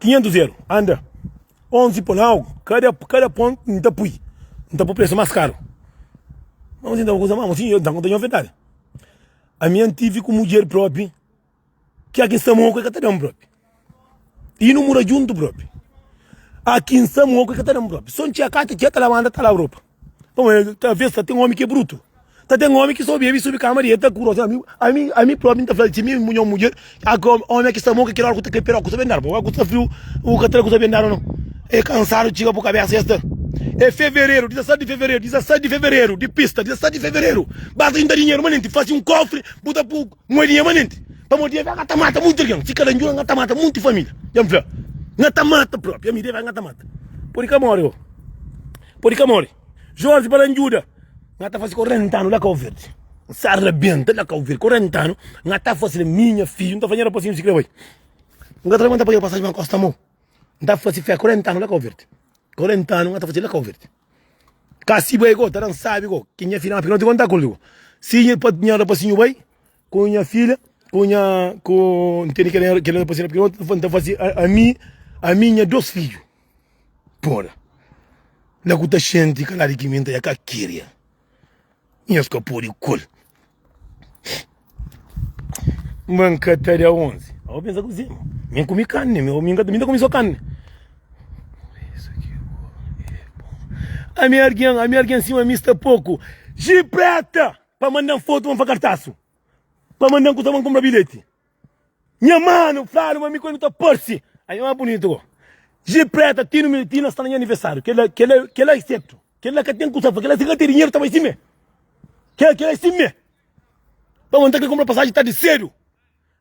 500 euro anda 11 po na algu kada kada pon nu ta pui nu ta pui presu mas karu ma nu sinta un kusa mau si nta konta nha verdadi ami antive ku mudjer propi Ki a ki N sta mo, ku el ka ta da-m propi. I nu mura djuntu propi. A ki N sta mo, ku el ka ta da-m propi. Sô N txiga kata, txiga ta labanta, ta laba ropa. Pamodi el ta besta, ten omi ki é brutu. Ta ten omi ki sô bebe i subi kama di el, ta kurosa. Ami, ami, ami propi N ta fla-l, tximi, nha mudjer, a ki omi a ki sta mo, ku kel óra ku ta kai piroka, ku sabe andaba. Óra ku sta friu, bu ka ta da ku sabe andaba, nau. É kansadu txiga bu kabésa dja sta. É fevereru, 17 di fevereru, 17 di fevereru, di pista, 17 di fevereru. Basta djunta dinheru manenti, fase un kófri, bu ta pô. Muedinha manenti pamodi é vegata mata mutu algen si kada ndjora ngata mata monti família dja nfla ngata mata propi ami deve ngata mata podi ka mori ho podi ka mori jorge bala njuda ngata fasi 40 anu la kauverdi nsa rabenta la kauverdi 40 anu ngata fasi la mi nha fidju nta fla nha rapasinhu si kre bai nga tra manta padiba pasaji ma nkosta mo nta fasi fé 40 anu la kauverdi 40 anu ngata fasi la kauverdi. Kasi bai go, ta dan sabi go Ki nha filha má pika no ti konta kul go Si nha pa nha rapasinhu bai Ku nha filha Ku nha Ku N tene kel kel rapasinhu pika no ta N ta fase ami ami i nha dos fidju Pora La ku ta xenti kaladu ki mi N ta ia ka keria Nhos ka pode kul M'ban ka ta da 11 Ô ben sa kuze-m M'ben kume karni Ô mi ka ta kume so karni Ami argen Ami argen sima mi sta poku Jipreta Pa manda-m fotu Ba-m fa kartasu Pa manda-m kusa Ba-m kunpra bilheti. Nha manu fla-nu ma mi ku el nu ta parse. Ai, nha manu bunitu ko. Ji preta, ti nu mi, ti na sta na nha aniversariu. Kel la, kel la, kel la i sertu. Kel la ka ten ku sa fla. Kel la si ka ten dinheru ta bai simé. Kel, kel la i simé. Pa bo, N ta kre kunpra pasaji tardi sedu.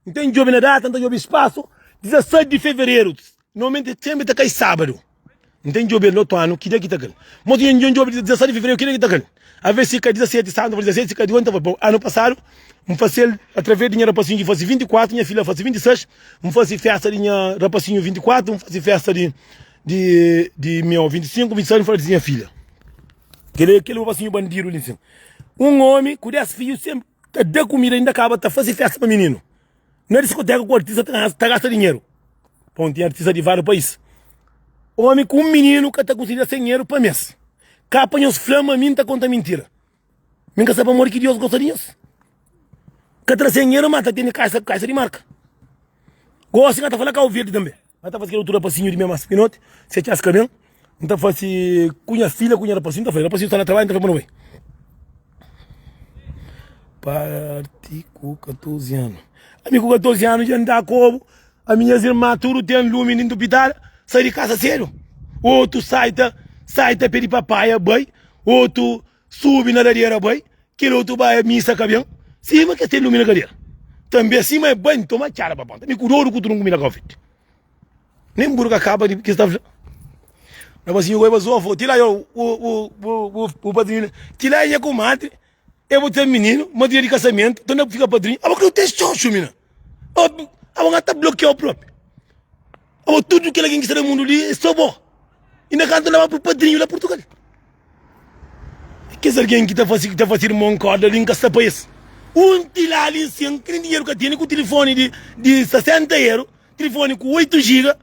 N ten djobe na data, N ta djobe spasu, 16 di fevereru. Normalmenti es tenbri ta kai sabadu. N ten djobe el otu anu, ki dia ki ta kai? Mos ki N djobe dia 17 di fevereru, ki dia ki ta kai? Aves si kai 17 santu, ta fase 16, si kai 18 ta fase. Bon, anu pasadu N fase el atraves di nha rapasinhu ki fase 24, nha filha fase 26, N fase festa di nha rapasinhu 24, N fase festa di di miau 25, 26 N fase di nha filha. Kel li, kel rapasinhu bandidu li nsin. Un omi ku 10 fiju, senpri ta da kumida, inda kaba ta fase festa pa mininu. Na diskoteka ku artista ta gasta dinheru Pa un ten artista di váriu país Omi ku un mininu ka ta konsigi da senheru pa mes Ka pa nhos fla ma mi n ta konta mintira Mi n ka sta pamodi ki Dios gosta di nhos Ka tra senheru ma ta tene kaxa di marka Gosi n ka ta fla kau verdi tanbe. N ta fasi kel otu rapasinhu di mema spinoti se txas ka ben. N ta fasi ku nha fidja ku nha rapasinhu. N ta fla-l, rapasinhu sta na trabadju, N ta fla-l pa nu bai. Parti ku 14 anu Ami ku 14 anu dja N da kobu Ami nhas irma tudu ten lumi Nin dupidada sai di kasa sedu Otu sai ta sai ta pedi papaia bai Otu Subi na ladera bai Kel otu ba é misa ka ben Sima kes ten lumi na kadera Tanbe sima é bai N toma txada pa ponta Mi ku dodu ku trunku mi na konfeti Nen buru ka kaba di ki sta fla Na ba sinhu goi ba zofa Ti la bu padrinhu Ti la é nha kumadri É bu ten mininu Madrinha di kasamentu Ton na fika padrinhu Aba kre-u ten xoxu mina Aba ngata blokiau propi. Abo tudo kel algen ki sta na mundo li é so bo inda kantu na ba pro padrinho la portugal kes algen ki ta fasi ki ta fasi irmon korda li nka sta pa es um ti la li nsin ki nin dinheiro ka teni ku telefone di di 60 euro telefone ku 8 giga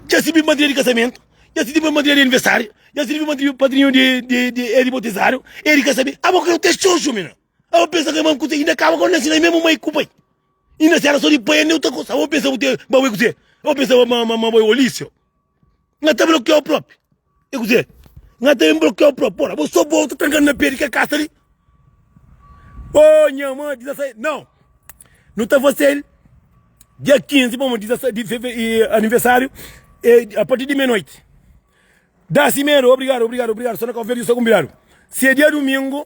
ja sibi madrinha di kasamento ja sibi madrinha di aniversario ja sibi madrinha padrinho di di di e di botizado e di kasamen abo kreu ke xoxo mina abo pensa ke inda kaba kau na nsin ai memu mai ku pai E na sela so di pai eu ta kosaba o pensaba te ba bai kuzê o pensaba ma ma ma bai olísio na ta blokiau propi e kuzê na ta ben blokiau propi ora bo so bo ta trankadu na pé di kel kasa li o nha ma di 16 nau nu ta fazel dia 15 bo ma di 16 di feve e aniversário e a partir di meia noite da si medo obrigado obrigado obrigado so na kau verde so konbidadu se dia domingo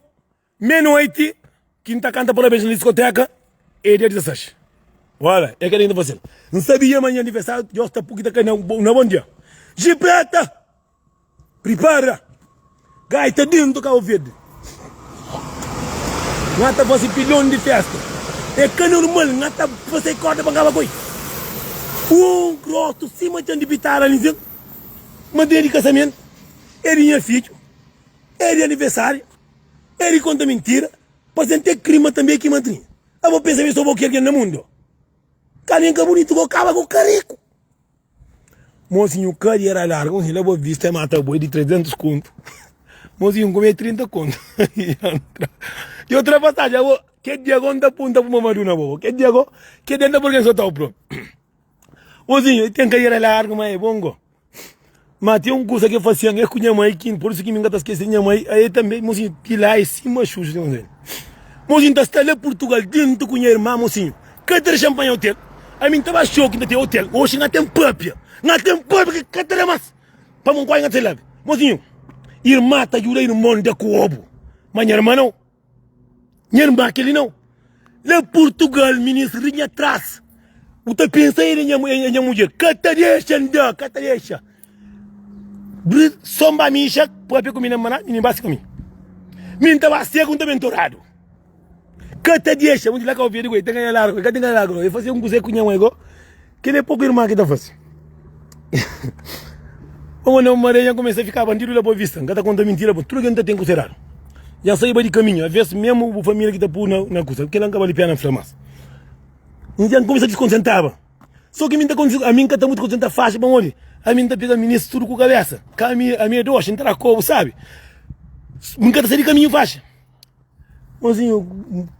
Mé noite ki n ta kanta parabéns na diskotéka é dia 16. Ora, é kel-li ki n ta faze-l. N sabia ma nha aniversáriu ta djosta pur ki ta kai na na bon dia. Jipreta! Pripara! Gaita déntu Kabo Verde! N ata faze pilon di fésta. É ka normal, n ata faze kórda pa n kaba ku el. Un grosu sima txon di pitara li zen. Ma dia di kasamentu, é di nha fidju, é di aniversáriu. É di konta mintira, pase N te krima tanbe ki madrinha A bo pensa ma é so bo ki algen na mundo Ka algen ka bunitu bo kaba ku kariku Mosinhu kadi era larga un la bo vista é mata boi di 300 kontu Mosinhu kome 30 kontu Yo tra pasaji abo Ke dia go N ta punta pu mamaduna bobo Ke dia go Ke dia N ta purka N so tau promi. Ozinho, e ten kariera largu, ma e bongo. Ma ten un kusa ki e fasian, e ku nha mai kin, por isu ki mi n ka ta skese nha mai. A e tanbe, Mozinho, ti la e sima xuxu ten ozeni. Mozinho ta sta la Purtugal, dentu ku nha irma. Mozinho, ka ta dexa-m panha otel. Ami n ta ba xoki, n ta ten otel. Oxi nha ten papia, nha ten papia ki ka ta da mas pa mi un kuadju nha ta labe. Mozinho, irma ta djuda irmon da ku obu, ma nha irma nau. Nha irmã, kel li nau. Na Purtugal, ministru di nha tras. Bu ta pensa el é nha mudjer. Ka ta dexa N da, ka ta dexa. Bri, sô N ba mixa, pâpia ku mi na maná, minha irmã si ku mi. Mi N ta ba seku, N ta ben toradu. Ka ta dexa, bu di la ka obi el di go, el ten ka na largu, el ka ten ka na largu nau. El fazê un kuzê ku nha mãi go. Kel-li é poku irman ki ta fase. Omi anda un mare, dja N kumesa ta fika bandidu la Boa Vista. N ka ta konta mintira bo, tudu kel ki N ta ten ku seradu. Dja N saiba di kaminhu, avés mésmu bu família ki ta pô-u na kusa. Kel-la N ka bali péna N fla más. N dja N kumesa ta diskontentaba. Sô ki mi N ta kontise, ami N ka ta mutu kontenta faxi, pamodi ami N ta pega minis tudu ku kabésa. Ka ami, ami é doxi, N ta da kó, bu sabe. N ka ta sai di kaminhu faxi. Mozinho,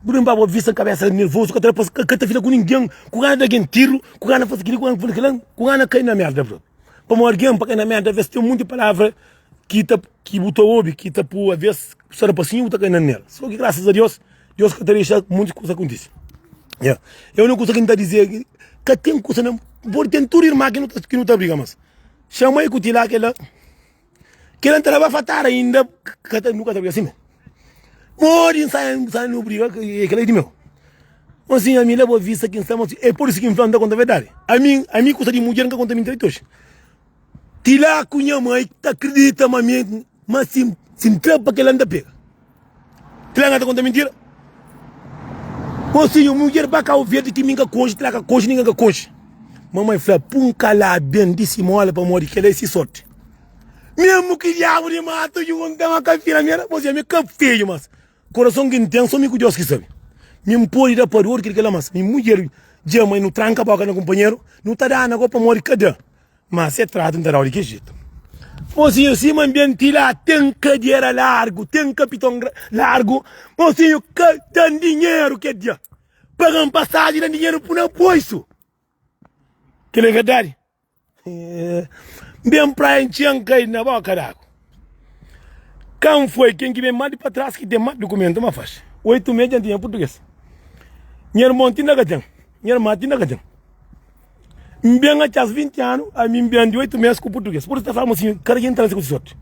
bura mi ba bo vista kabesa nervozu ka ta da pâs, ka ta fla ku ningen, ku gana da gen tirru, ku gana fase kili, ku gana fase kilau, ku gana kai na merda bro. Pamodi algen pa kai na merda avés ten monti palavra ki ta ki bu ta obi ki ta pô avés sa da pasinhu bu ta kai na nel. Sô ki grasas a Deus, Deus ka ta dexa monti kusa kontise. Nha, e úniku kusa ki N ta dizê é ki ka ten kusa na, bu pode ten tudu irman ki nu ta briga mas xamai ku ti la kela. Kila nta laba fatar ainda kata nu kata assim pode sai sai no briga que que é de meu mas sim a mim leva vista que estamos é por isso que me falando conta verdade a mim a mim custa de mulher nunca conta mentira hoje tila cunha mãe tá acredita mas mim mas sim sim trampa que ela anda pega Tila nga ta konta mintira. Ô sinhor, mudjer ba kau verdi ki mi nka konxe, tila ka konxe, ninga ka konxe. Mamai fla, pun ka la ben di simola pamodi kela é si sorti. Mesmu ki diabu di matu junta ma ka fina mi, era bozia mi ka feju mas korason ki n'ten so mi ku Deus ki sabi. Mi n'podi da pador kil kela mas mi mudjer dja ma nu tranka boka na kunpanheru, nu ta dana ko pamodi ka da Má se tratu N ta da-u di ki jetu? Mosinhu, sima N ben ti la, ten kadiera largu, ten kapiton largu. Mosinhu, ka da-m dinheru kel dia. Paga-m pasaji, da-m dinheru pui na bolsu. Kel-li é verdadi? N ben praia, N txia, N kai na bóka d'agu. Kan foi ken ki ben más di pa tras ki ten más dukumentu ma faxi. Oitu mês dianti nha purtuges. Nha irmon ti inda ka ten. Nha irman ti inda ka ten. N ben atxas 20 anu, ami n ben di oitu mês ku purtuges. Pur es ta flaba-m asin, Kada ki N ta nase ku si sorti?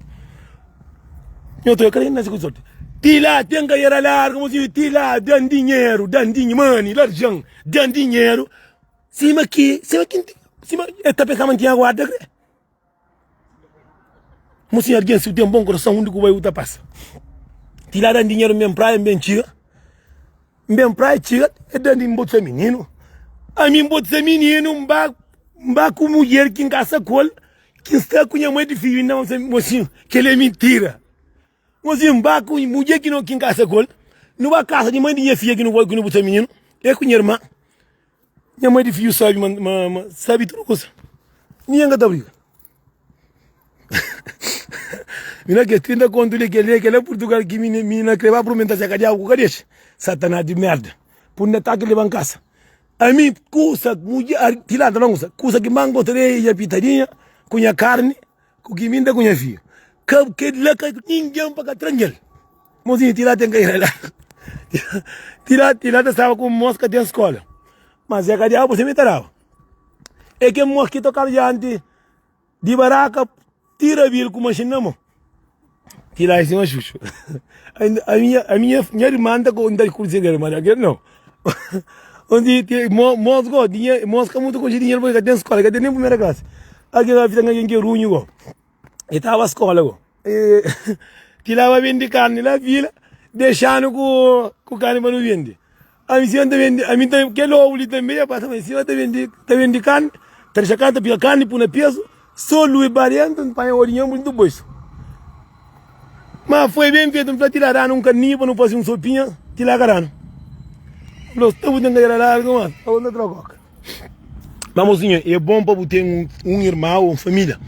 Nha otu, Kada ki N ta nase ku si sorti? Ti la, ten ka era larga-m asin, ti la, da-m dinheru, da-m dinhe, mane, larjan, da-m dinheru. Sima ki, sima ki N tin, sima el ta pensaba N tinha guarda kre. Mo sim alguém se u tem bom coração undi ku bai u ta passa ti la dan dinheiro nben praia nben txiga nben praia txiga e dan din botsa mininu ami nbotsa mininu nba nba ku mulher ki nkasa kol ki nsta ku nha mai di fidju inda mo sim kele mintira Gosi N ba ku mudjer ki N kasa ku el, nu ba kasa di mai di nha fidja ki nu bai ku nu bu ser mininu, el ku nha irman. Nha mai di fidju sabe ma N sabe tudu kusa. Mi i el ka ta briga. Mi na kes trinta kontu li, kel li, kel la Purtugal ki mi na kre ba purmenta se ka diabu ku ka dexa. Satanás di merda! Pudi na ataka i leba-m kasa. Ami, kusa, mudjer, ti la ta fla-m kusa, kusa ki N ba gosta di el é nha pitadinha ku nha karni. Ku ki mi nta ku nha fidju? Ka kel la ka ningen pa ka tranjel. Mozinha ti la ten ka ira la. Ti la ti la ta staba ku mos ka ten skola. Mas e ka diabu se mi ta daba. E ken mos ki tokaba dianti di baraka ti rabil ku mashin na mo. Ti la é sin ó Xuxu A minha, a minha, minha irmã nta ko, nta kuze dinheru ma dakel nau Onde ti, mo, mos go dinhe, mos ka mutu konxe dinheru porque ka ten skola, ka ten nen primeira classe Algin la fita n'algin ke runhu go E tava skola go e Ti la ba bendi karni la vila dexanu ku, ku karni pa nu bendi Ami si N ta bende, ami ta, kel ovu li tanbe, e pasa ma si N ta bende, ta bende karni, ta dexa karni, ta piga karni, pui na pesu, so lui ba dentu, N panha odinha N buntu boisu. Ma foi ben fetu, N fla, ti la danu un karninha pa nu fasi un sopinha, ti la ka danu. Fla, sta bu ten kadera largu, mas, aos na trokoka. Má mosinho, é bon pa bu ten un irmau ô un família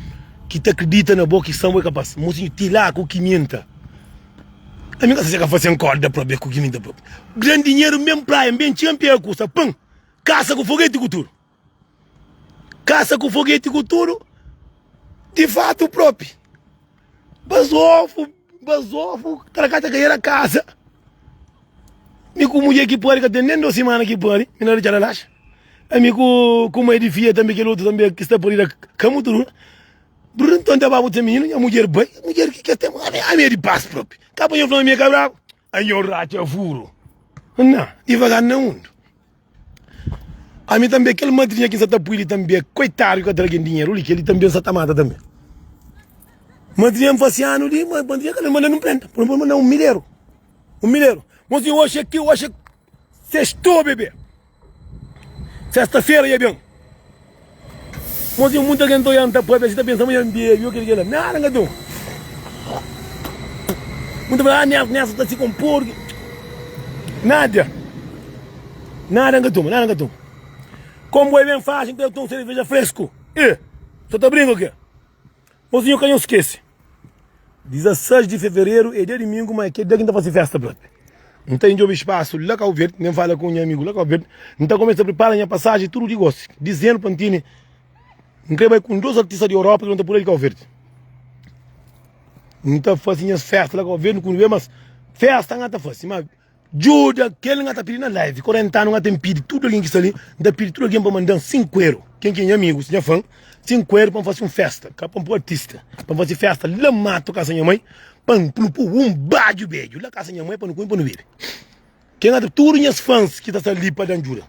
ki ta kridita na bo, ki sta na bo. É kapás, mosinho, ti la ku kiminta. Ami ka saseka fase un kórda própi, é ku kiminta própi. Grandi dinheru, N ben praia, N ben txénpia, é kusa pan, kasa ku fogeti ku tudu. Kasa ku fogeti ku tudu, di fatu própi. Bazofu, bazofu, taraká ta kaera kaza. Mi ku mudjer ki pari ka ten nen dos simana ki pari, mi na retxada laxa. Ami ku ku mai di fia tambi, kel otu tambi ki sta parida ka mutu dura. Brrr, nton ta ba bu ta mininu, nha mudjer bai, nha mudjer ki ka ten ami, ami é di pas propi. Ka pa nha fla ma mi é ka brabu. Anhau ratxa vuru na divagar na mundu Ami tanbê kel madrinha ki n sa ta pui li tanbê Koitadu ki ka tra algen dinheru li Kel-li tanbê n sa ta mata tanbê Madrinha n fase anu li Madrinha kal-li n manda-l un prenta Poi-m pa-m na un mileru Un mileru Mon sinhor oxi é teu oxi é. Sextou bebê Sesta fera ya ben Mon zen muita gen ta oian ta pâpia si ta pensa ma ya bebe ok dikela nada nga don Mun ta fala ah nel nessa ta si kom porki Nada Nada nga toma nada nga toma Kombo é ben faxi nta ya toma sereveja fresku eh so ta brinka ok. Mozinho eu ka nhos skese. 16 di fevereru é dia domingo ma é kel dia ki n ta fase festa blat. N ta indjobe spasu la Cabo Verde, ma N fala ku nha amigu la Cabo Verde, N ta kumesa pripara nha pasaji tudu di gosi, dizendo pa Ntini N krê bai ku un dos artista di Europa ki nu ta pula di Cabo Verde. N ta fase nhas festa la Cabo Verde, N kunde be, mas festa N ka ta fase. Djuda kel nga ta pidi na live korenta anu nga ten pidi tudu algen ki sta li nta pidi tudu algen pa mandan sinku eru ken ki é nha amigus nha fan sinku eru pa nfasi un festa ka pa npu artista pa nfasi festa la matu kasa nha mãe pa npu pu un badju bedju la kasa nha mãe pa nu kume pa nu bebe ken nga ta tudu nhas fans ki ta sta li pa dan djuda.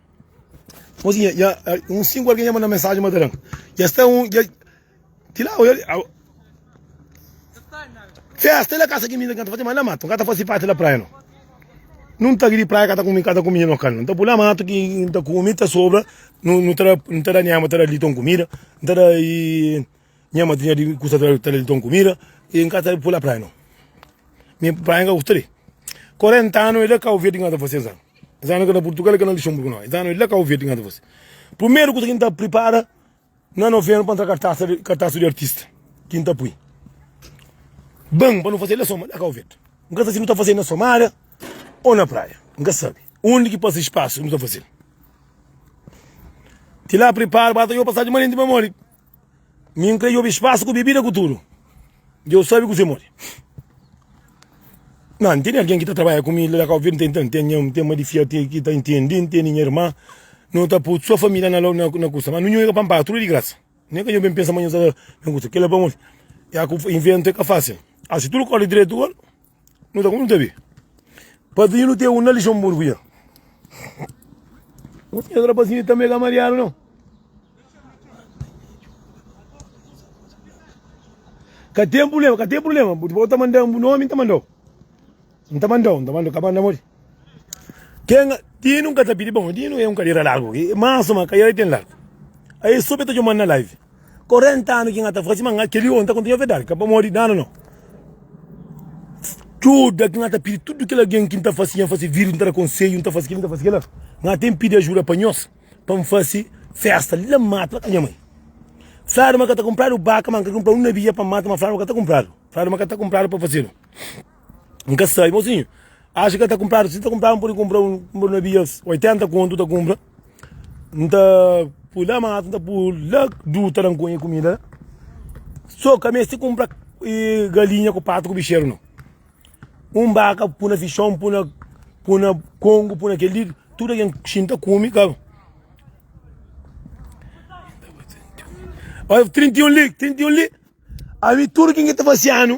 Tipo assim, ya, um cinco alguém ya manda mensagem mas taran. Ya está um, ya tila o ele. Festa ele casa que mina canta fazer mas lá mato, canta fazer parte da praia não. Não tá de praia canta comigo, canta comigo não canta. Então pula mato que tá comida sobra, não não tá não tá nem ama tá ali tão comida, não tá e Nha madrinha di gusta tra tra ton comida e nka ta pula praia não. Mi praia nka gusta de. 40 ano e la Cabo Verde nka ta fase es ano. Es ano nka na Portugal e ka na Luxemburgo não. Es ano e la Cabo Verde nka ta fase. Primeiro kusa ki nta pripara na novembro pa ntra kartasa di kartasa di artista ki nta pui. Ban pa nu fase la soma la Cabo Verde. Nka sa si nu ta fase na Somalia ou na praia. Nka sabe. Undi ki pase espaço nu ta fase. Ti la pripara ba ta yopa sa di manenti mamó li. Mi n kre yobi spasu ku bebida ku tudu. Djeu sabi kuse modi. Nan, n tene algen ki ta trabadja ku mi la na Cabo Verde, n ten, ten, ten ma di fia ki ta intendi, n tene nha irma, no ta poi so família na, na kusa. Ma nu nhonha ka panpadu, tudu di grasa. Nen ka nho ben pensa ma nho sa ta ben kusa. Kila pamodi, ya ku inventu e ka fasil. Asi tudu kordi dretu gora. Nu ta konta be. Pazinho nu ten un na Luxemburgo dja. Não sei, outra pazinha também é Mariano, não. Cá tem problema, cá tem problema. Vou te mandar um nome, te mandou. Não te mandou, não te mandou, acabando amor. Quem Tino nunca te pedi bom, Tino é um cadeira largo, mas uma cadeira tem largo. Aí soube te mandar live. 40 anu ki nga ta faze ma nga kel li ô n ta kontinua verdadi ka pamodi danu no djuda ki nga ta pidi tudu kel algen ki n ta fase nha fase vidu n ta da konsedju n ta fase kel li n ta fase kel la nga ten pidi ajuda pa nhos pa n fase festa la n mata la ka nha mai fladu ma ka ta kunpradu baka ma n ka kunpradu un nabia pa n mata ma fladu ma ka ta kunpradu fladu ma ka ta kunpradu pa fazedu. N ka sai, mosinhu, axa ki el ta kunpradu. Si el ta kunpradu, N pode kunpra un, N pode bia 80 kontu ta kunpra. N ta pui la mata, N ta pui la duta la, N konhe kumida la. So ka meste kunpra galinha ku patu ku bixeru nau. Un baka pui na fixon, pui na, pui na kongu, pui na kel li, tuda ken xinta kume ka. Oi, 31 li, 31 li, ami tudu ken ki ta fasi anu.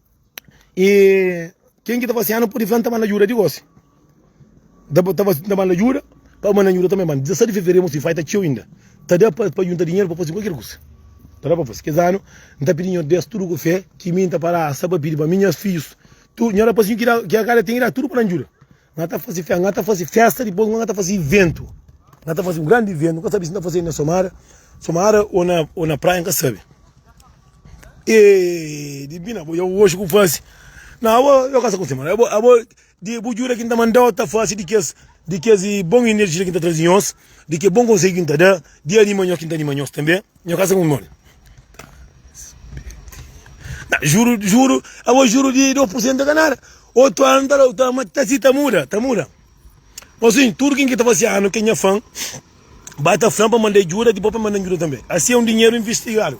E ken ki ta fase anu pode fla N ta banda djuda di gosi N ta banda djuda pa banda djuda tanbe Mante 17 di fevereru mos faita txeu inda Ta da pa djunta dinheru pa fase kualker kusa Ta da pa fase Kes anu N ta pidi Nhos des tudu ku fe Ki mi N ta fala Asa pa pidi pa mi nhas fidjus tudu Nhos da pasinhu ki da ki kada ten ki da tudu pa nan djuda Nga ta fazi festa, nga ta fazi festa dipos nga ta fazi iventu. Nga ta fazi un grandi iventu, nga sabi si ta fazi na somada, somada o na o na praia nga sabi. Eee dibina bo yau oxi ku fazi. Na abo yo ka sa kunsi mara. Abo abo di bu juda ki nta mandau ta fazi di kes di kes bon energia ki nta trazi nhos, di ke bon konseiu ki nta da, di anima nhos ki nta anima nhos tambe. Nho kasa ku mol. Na, juro, juro, abo juro de 2% é ka nada. Outro ano tá, tá, mas tá assim, tá muda, tá muda. Mas assim, tudo quem que tá fazendo ano, quem é fã, bata flan para mandar ajuda, depois para mandar ajuda também. Assim é um dinheiro investigado.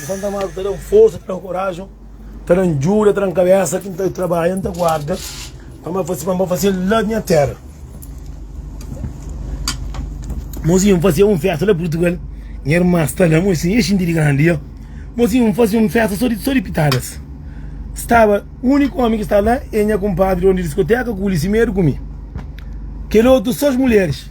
Di Santa Marta ta dan forsa, ta dan korajen, ta dan djuda, ta dan kabesa ki N ta trabadja, N ta guarda pa N ba faze-l la nha tera. Mozinho, N faze un festa la Purtugal, nha irman sta la, mozinho, nha xinti di grandi ya. Mozinho, N faze un festa so di pitadas. Staba, uniku omi ki sta la e nha kunpadri donu di diskoteka ku Lisimedu ku mi. Kel otu so es muleris.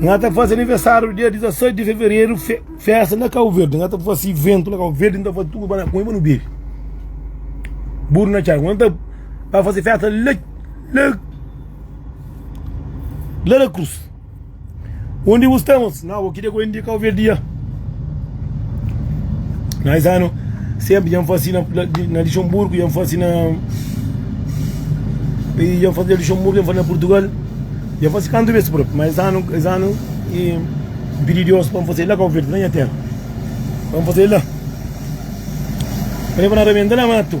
Nga ta fase aniversário dia 16 de fevereiro, fe, festa na Cabo Verde. Nga ta fase evento na Cabo Verde, nga ta fase tudo para com no bebe. Burro na chave. Nga ta para fase festa lá, lá, lá na cruz. Undi bu sta, mos? Na, bo kidia ku indi ka ouvir dia. Na es anu, sempre djan fasi na, na Luxemburgo, djan fasi na. E djan fasi na Luxemburgo, djan fasi na Portugal. Djan fasi kantu bes propi, ma es anu, es anu, e pidi Deus pa N fasi la Cabo Verde, na nha terra. Pa N fasi la. P'e pa na rebenta la matu.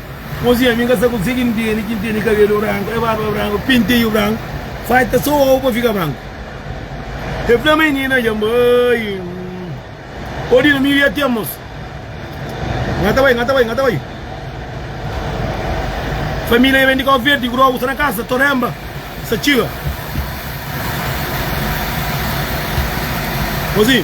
Mozinha mi ka sa konsegi ntende kin tene kabelu branku e barba branku penteiu branku falta so ovu pa fika branku e fla ma e nina dja bai odina mi dja ten mos nga ta bai nga ta bai nga ta bai familia dja ben di kau verdi grogu sta na kasa toremba sa txiga mozinha.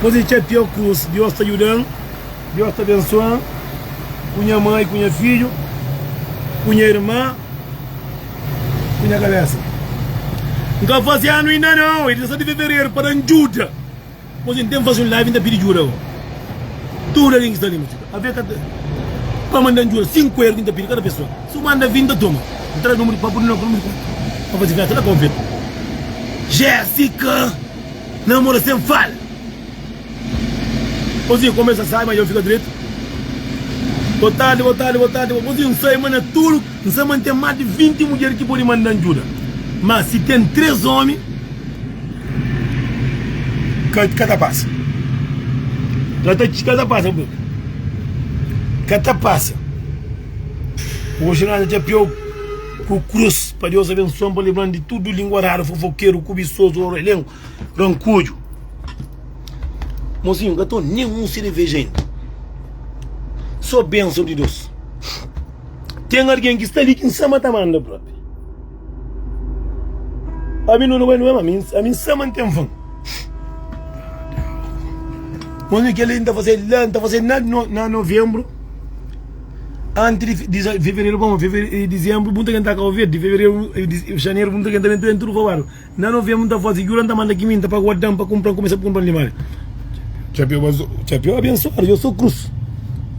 Kuzê ki é pior ku si Deus ta djuda-m, Deus ta abensua-m, ku nha mai, ku nha fidju, ku nha irma, ku nha kabésa? N ka faze anu inda nau, é 17 di fevereru, pa da-m djuda. Kuzê N ten faze un live, N ta pidi djuda ago. Tudu algen ki sta li, mô txeu, avê ka ta, pa manda-m djuda, 5 éru ki N ta pidi kada pesoa. Si bu manda vin ta toma N ta da nunbru di papu di no Pur mizerikórdia pa faze festa la ka ovel Jessica namora sen fala Ozinha kumesa sai ma dja N fika dretu Bo tardi bo tardi bo tardi bo Ozinha N sai ma na tudu N sa ma N ten mas di 20 mudjer ki podi manda-m djuda Mas si ten tres omi ka ka ta pasa Ka ta pasa Ka ta pasa Oji na ta txapia-u ku krus Pa Deus abensua-m pa libra-m di tudu lingua rara Fofokeru, kubisozu, orelheu, rankuju Mozinhu, n ka toma nen un sereveja inda So benson di Deus Ten algen ki sta li ki N sama ta manda propi Ami nu na bai nu ami N sama N ten fun Mozinhu, kel-li N ta fase-l la N ta fase-l na novembru Antis di fevereru pa marsu i dizenbru, bu N ta kenta kau verdi. Xaneru, bu N ta kenta ben tudu fabadu. Na novenbru, N ta fase jura, N ta manda kiminta pa guardan, pa kunpran, kumesa pa kunpran limariu. Txapéu abensuadu, dja so krus.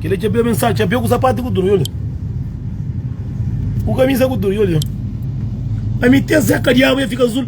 Kel-la é txapéu abensuadu, txapéu ku sapatu, ku tudu. Dja odja, ku kamisa, ku tudu. Dja odja, ami ten seka di agu, dja fika azul.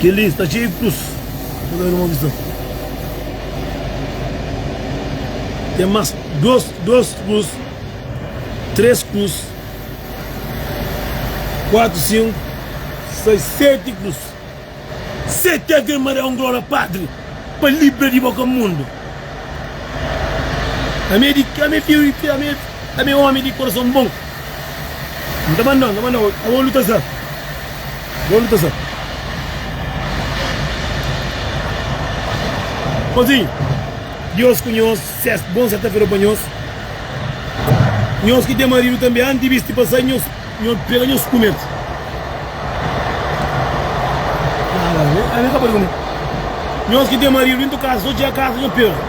Kel-li sta txeiu di krus. Ten más dôs, dôs krus, três krus, kuatu, sinku, sais, seti krus. Seti Ave Maria un Glória Patri pa libra di boka mundu. Ame di, ame fidju di, ame ame ómi di kurason bon. N ta banda, N ta banda Ô olu ta sa, Ô olu ta sa Pazinhu, Diós ku nhos Ses bon serta-fera pa nhos Nhos ki ten maridu tanbe Anti bis ti pasa nhos Nho pega nhos kume-l Nhos ki ten maridu dentu kasa Sô txiga kasa nho pega-l.